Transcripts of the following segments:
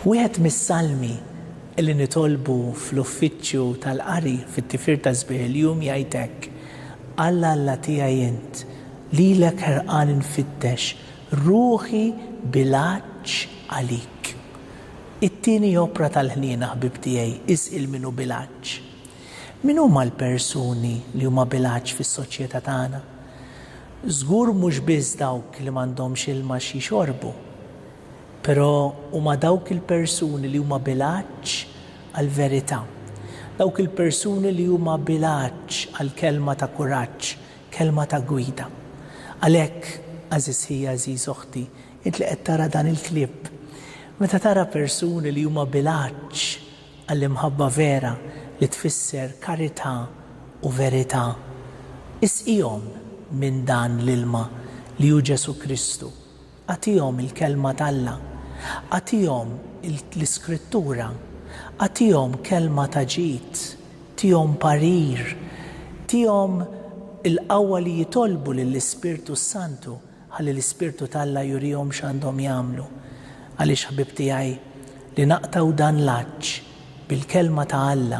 Wieħed mis-salmi li nitolbu fl-uffiċċju tal-qari fit-tifir ta' sbieħ il-jum jgħid hekk, Alla Alla tiegħi int, lilek ħerqan infittex, ruħi Bilaċċ għalik. It-tieni opra tal-ħniena ħbieb tiegħi isqil min hu Bilaċċ. Min huma l-persuni li huma Bilaċċ fis-soċjetà tagħna? Żgur mhux biss dawk li m'għandhomx ilma xi jxorbu. Però huma dawk il-persuni li huma Bilaċċ għall-verità. Dawk il-persuni li huma Bilaċċ għall-kelma ta' kuraġġ Kelma ta' gwida. Għalhekk, għażiż ħija, għażiż oħti, int li qed tara dan il-clip, meta tara persuni li huma bilanċ għall-imħabba vera li tfisser karità u verità, isqihom minn dan l-ilma li hu Ġesù Kristu, Agħtihom il-Kelma t'Alla. Agħtihom l-Iskrittura. Agħtihom kelma ta' ġid. Tihom parir. Tihom il-qawwa li jitolbu lill-Ispirtu s-Santu ħalli l-Ispirtu t'Alla jurihom x'għandhom jagħmlu. Għaliex ħbieb tiegħi, li naqtgħu dan l-għatx bil-Kelma ta' Alla,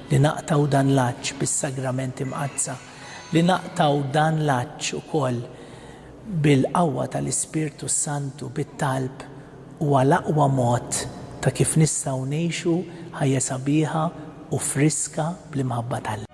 li naqtgħu dan l-għatx bis-Sagramenti Mqaddsa, li naqtgħu dan l-għatx ukoll bil-qawwa tal-Ispirtu s-Santu, bit-talb, huwa l-aqwa mod ta' kif nistgħu ngħixu ħajja sabiħa u friska bl-imħabba ta' Alla.